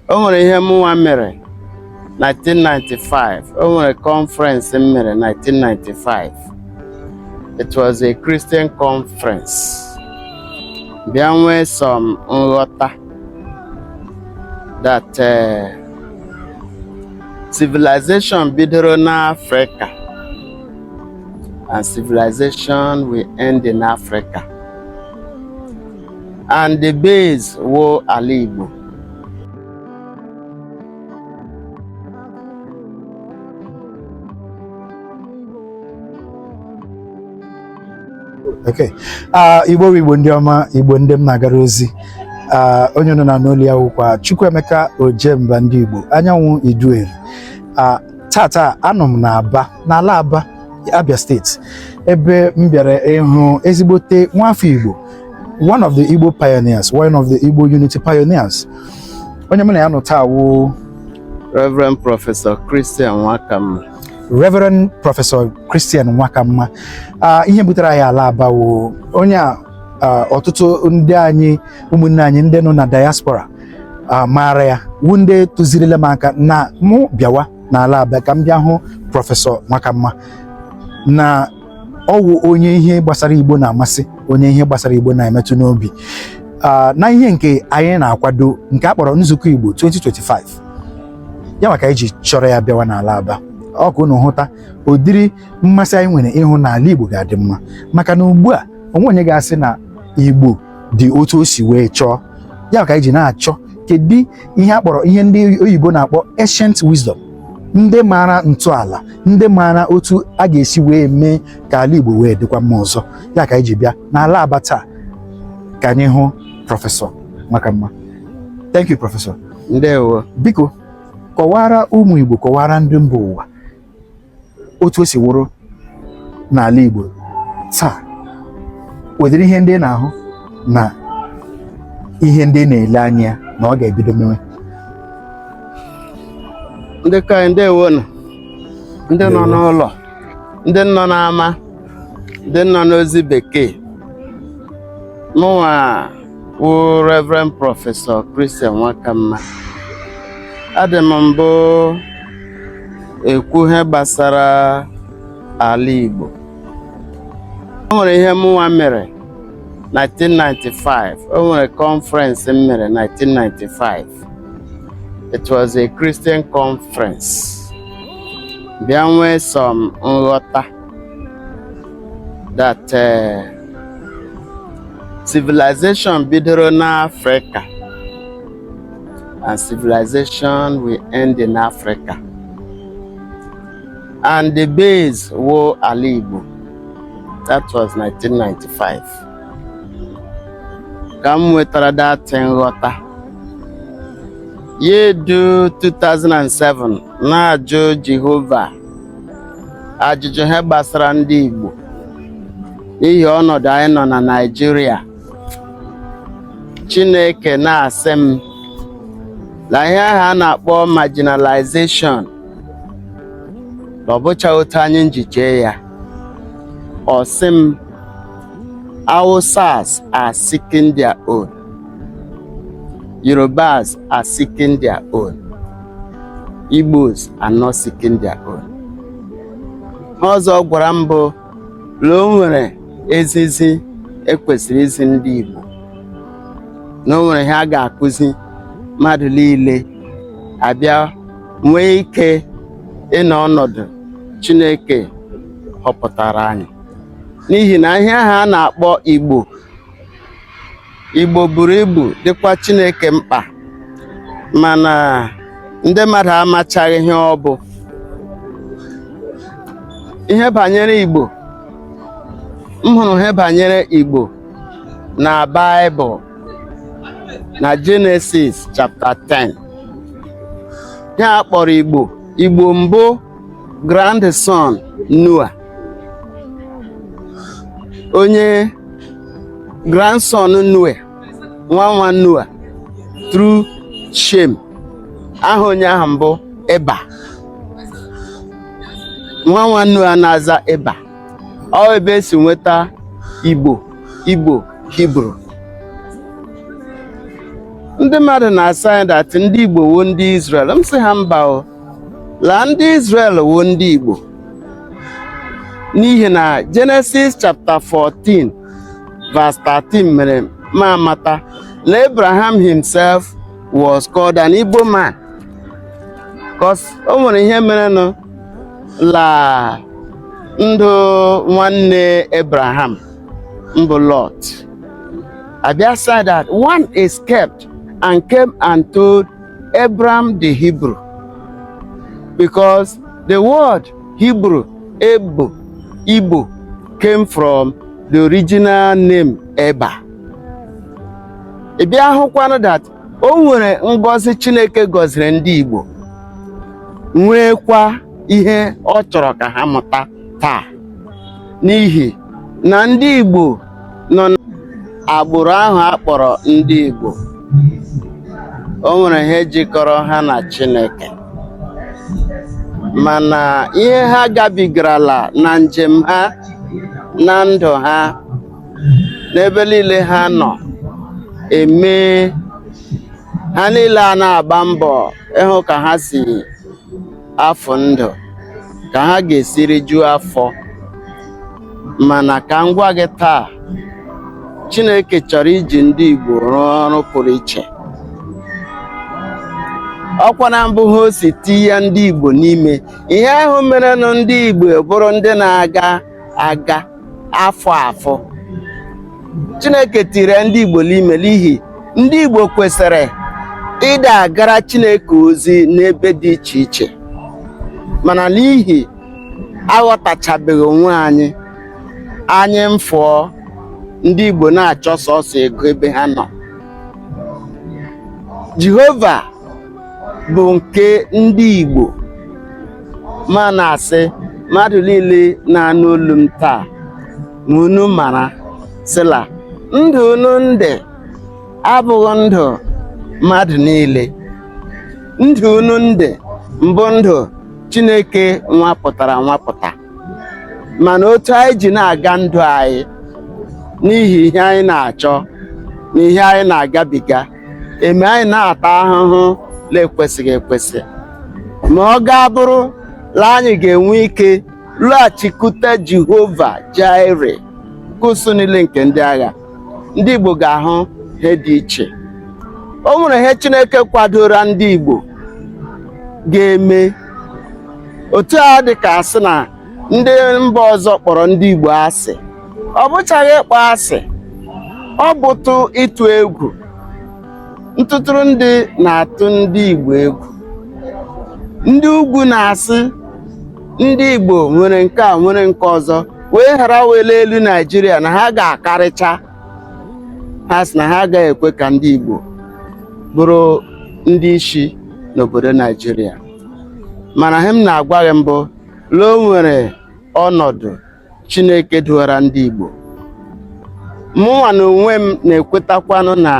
o nwere ihe mụnwa mere 1995 o nwere conference m mere 1995 it was a Christian conference bịa nwee some nghọta that uh, civilization bidoro n'Africa and civilization will end in Africa and the base wụ ala Igbo okay ah, igbo igbo ndị ọma igbo ndị m na-agara ozi ah, onye unu na-anụ olu ya wụkwa Chukwuemeka Ojemba ndị Igbo anyanwụ Idueri ah, taataa anọ m n'Aba n'ala Aba Abia steeti ebe m bịara ịhụ ezigbote nwafọ Igbo one of the Igbo pioneers one of the Igbo unity pioneers onye mụ na ya nọ taa wụ Reverend Professor Christian Nwakamma Reverend Professor Christian Nwakamma ah, ihe butere anyị ala Aba wụ onye a ah, ọtụtụ ndị anyị ụmụnne anyị ndị nọ na diaspora ah, maara ya wụ ndị tụzirila m aka na mụ bịawa n'ala Aba ka m bịa hụ Professor Nwakamma na ọ wụ onye ihe gbasara igbo na-amasị onye ihe gbasara igbo na-emetụ n'obi ah, na ihe nke anyị na-akwado nke a kpọrọ nzukọ igbo 2025 ya maka anyị ji chọrọ ya bịawa n'ala aba ọ ka unu hụta ụdịrị mmasị anyị nwere ịhụ na ala igbo ga-adị mma maka na ugbu a o nweghị onye ga-asị na igbo dị otu o si wee chọọ ya ka anyị ji na-achọ kedu ihe a kpọrọ ihe ndị oyibo na-akpọ ancient wisdom ndị maara ntọala ndị maara otu a ga-esi wee mee ka ala Igbo wee dịkwa mma ọzọ ya ka anyị ji bịa n'ala Aba taa ka anyị hụ prọfesọ Nwakamma thank you prọfesọ ndewo biko kọwaara ụmụ Igbo kọwaara ndị mba ụwa otu o si wụrụ n'ala Igbo taa ụdịrị ihe ndị ị na-ahụ na ihe ndị ị na-ele anya na ọ ga-ebido mewe ndị ka anyị ndewo nụ ndị nọ n'ụlọ ndị nọ n'ama ndị nọ n'ozi bekee mụnwa wụ Reverend Prọfesọ Christian Nwakamma adị m mbụ ekwu ihe gbasara ala Igbo o nwere ihe mụnwa mere 1995 o nwere conference m mere 1995 it was a Christian conference bịa nwee some nghọta that uh, civilization bidoro n'Africa and civilization will end in Africa and the base wụ ala Igbo that was 1995 ka m nwetara that nghọta ya edu 2007 na-ajụ Jehova ajụjụ ihe gbasara ndị Igbo n'ihi ọnọdụ anyị nọ na Naịjirịa Chineke na-asị m na ihe ahụ a na-akpọ marginalization na ọ bụchaghị otu anyị nji chee ya ọ sị m Hausas are seeking their own Yorubas are seeking their own. Igbos are not seeking their own. Ihe ọzọ ọ gwara m bụ na o nwere ezizi e kwesịrị izi ndị Igbo na o nwere ihe a ga-akụzi mmadụ niile a bịa nwee ike ịnọ ọnọdụ Chineke họpụtara anyị n'ihi na ihe ahụ a na-akpọ Igbo Igbo buru ibu dịkwa Chineke mkpa mana ndị mmadụ amachaghị ihe ọ bụ ihe banyere Igbo m hụrụ ihe banyere Igbo na Baịbụl na Jenesis chapta 10 ihe a kpọrọ Igbo Igbo mbụ grandson Noa onye grandson Noa nwa nwa Noa through Shem aha onye ahụ mbụ Eba nwa nwa Noa na-aza Eba ọ ebe e si nweta Igbo Igbo Hibru ndị mmadụ na-asị that ndị Igbo wụ ndị Israel m sị ha mba o la ndị Izrel wụ ndị Igbo n'ihi na Genesis chapter 14 verse 13 mere mụ amata na Abraham himself was called an Igbo man cos o nwere ihe merenụ la ndụ nwanne Abraham mbụ Lot a bịa said that one escaped and came and told Abram the Hebrew because the word Hebrew Ebo Igbo came from the original name Eba. Ị bịa hụkwanụ that o nwere ngọzi Chineke gọziri ndị Igbo nweekwa ihe ọ chọrọ ka ha mụta taa n'ihi na ndị Igbo nọ n'agbụrụ ahụ a kpọrọ ndị Igbo o nwere ihe jikọrọ ha na Chineke mana ihe ha gabigarala na njem ha na ndụ ha n'ebe niile ha nọ emee ha niile a na-agba mbọ ịhụ ka ha si afọ ndụ ka ha ga-esi rijuo afọ mana ka m gwa gị taa Chineke chọrọ iji ndị Igbo rụọ ọrụ pụrụ iche ọkwa na mbụ ihe o si tinye ndị Igbo n'ime ihe ahụ merenụ ndị Igbo bụrụ ndị na-aga aga afụ afụ Chineke tiri ndị Igbo n'ime n'ihi ndị Igbo kwesịrị ịda agara Chineke ozi n'ebe dị iche iche mana n'ihi aghọtachabeghị onwe anyị anyị mfụọ ndị Igbo na-achọ sọsọ ego ebe ha nọ Jehova bụ nke ndị Igbo mụ na-asị mmadụ niile na-anụ olu m taa ma unu mara sị la ndụ unu ndị abụghị ndụ mmadụ niile ndụ unu ndị mbụ ndụ Chineke nwapụtara nwapụta mana otu anyị ji na-aga ndụ anyị n'ihi ihe anyị na-achọ na ihe anyị na-agabiga emee anyị na-ata ahụhụ na-ekwesịghị ekwesị ma ọ ga-abụrụ na anyị ga-enwe ike lọghachikwute Jehova Jire nke ụsụụ niile nke ndị agha ndị Igbo ga-ahụ ihe dị iche o nwere ihe Chineke kwadoro ndị Igbo ga-eme otu a dị ka a sị na ndị mba ọzọ kpọrọ ndị Igbo asị ọ bụchaghị ịkpọ asị ọ bụtụ ịtụ egwu ntụtụrụ ndị na-atụ ndị Igbo egwu ndị ugwu na-asị ndị Igbo nwere nke a nwere nke ọzọ wee ghara wele elu Naijiria na ha ga-akarịcha ha sị na ha agaghị ekwe ka ndị Igbo bụrụ ndị isi n'obodo Naijiria mana ihe m na-agwa gị mbụ La o nwere ọnọdụ Chineke duwara ndị Igbo mụnwa na onwe m na-ekwetakwanụ na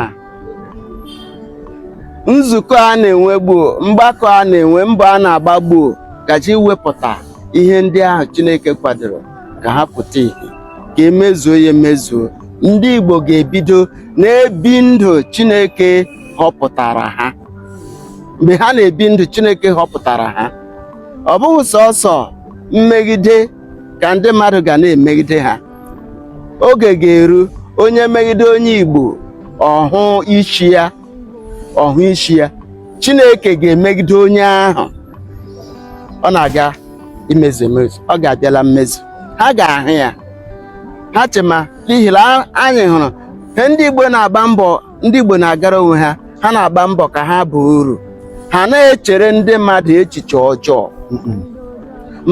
nzukọ a na-enwe gbuo mgbakọ a na-enwe mbọ a na-agba gbuo gaje iwepụta ihe ndị ahụ Chineke kwadoro ka ha pụta ihe ka e mezuo ya emezuo ndị Igbo ga-ebido na-ebi ndụ Chineke họpụtara ha mgbe ha na-ebi ndụ Chineke họpụtara ha ọ bụghị sọsọ mmegide ka ndị mmadụ ga na-emegide ha oge ga-eru onye megide onye Igbo ọ hụ isi ya ọ hụ isi ya Chineke ga-emegide onye ahụ ọ na-aga imezu emezu ọ ga-abịa la mmezu ha ga-ahụ ya ha chema n'ihi na anyị hụrụ ihe ndị Igbo na-agba mbọ ndị Igbo na-agara onwe ha ha na-agba mbọ ka ha baa uru ha na-echere ndị mmadụ echiche ọjọọ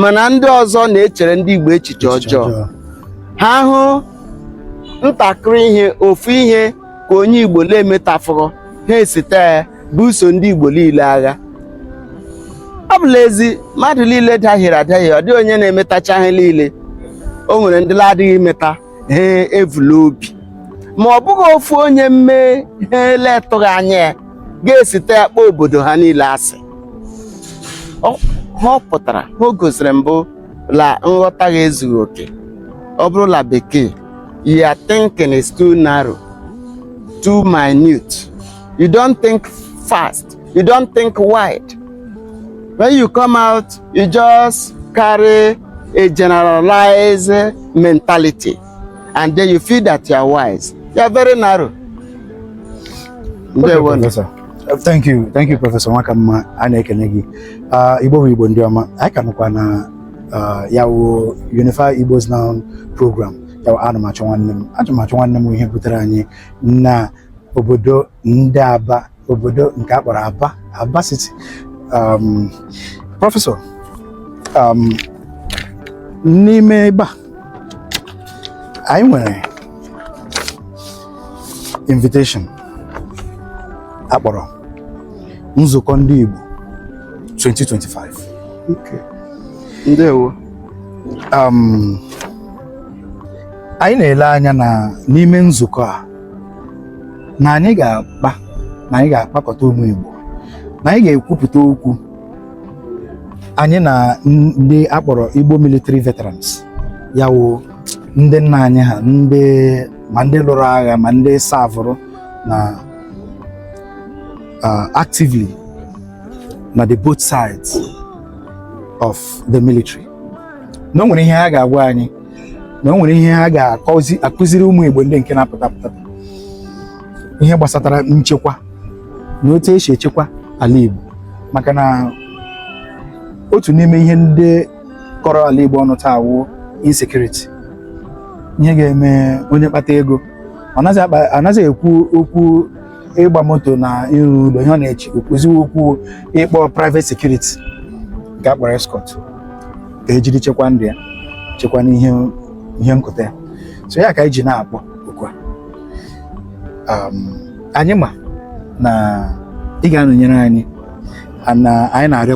mana ndị ọzọ na-echere ndị Igbo echiche ọjọọ ha hụ ntakịrị ihe ofu ihe ka onye Igbo na-emetafụghị ha esite ya buso ndị Igbo niile agha ọ bụ l'ezi mmadụ niile dahiere adahie ọ dịghị onye na-emetacha ihe niile o nwere ndị na-adịghị emeta ihe e vu l'obi ma ọ bụghị ofu onye mee ihe a la-atụghị anya ya ga-esite ya kpọọ obodo ha niile asị ihe ọ pụtara ihe o gosiri mbụ la nghọta gị ezughị oke ọ bụrụ la bekee your thinking is too narrow too minute you don't think fast you don't think wide when you come out you just carry a generalized mentality and then you feel that you are wise you are very narrow okay, professor. Uh, thank you thank you professor nwakamma a na-ekene gị uh, igbo bụ igbo ndị ọma anyị ka nọkwa na uh, ya wụ unify igbos now program ya wụ ana m achọ nwanne m ana m achọ nwanne m ihe butere anyị na obodo ndị aba obodo nke a kpọrọ Aba Aba City um, prọfesọ um, n'ime ebe a anyị nwere invitation a kpọrọ nzukọ ndị Igbo 2025 okay. ndewo um, anyị na-ele anya na n'ime nzukọ a na anyị ga-akpa na anyị ga-akpakọta ụmụ Igbo na anyị ga-ekwupụta okwu anyị na ndị akpọrọ Igbo military veterans ya wụ ndị nna anyị ha ndị ma ndị lụrụ agha ma ndị savụrụ na uh, actively na the both sides of the military na o nwere ihe ha ga-agwa anyị na o nwere ihe ha ga-akụziri ụmụ Igbo ndị nke na-apụta apụta ihe gbasatara nchekwa na otu esi echekwa ala Igbo maka na otu n'ime ihe ndị kọrọ ala Igbo ọnụ taa wụ insecurity ihe ga-eme onye kpata ego ọ naghị ekwu okwu ịgba moto na ịrụ ụlọ ihe ọ na-echekwuzi wụ okwu ịkpọ private security nke akpọrọ escort ka ejiri chekwa ndụ ya chekwa n'ihe ihe nkụta ya so ya ka anyị ji na-akpọ oku a um, anyị ma na ị ga-anọnyere anyị na anyị na-arịọ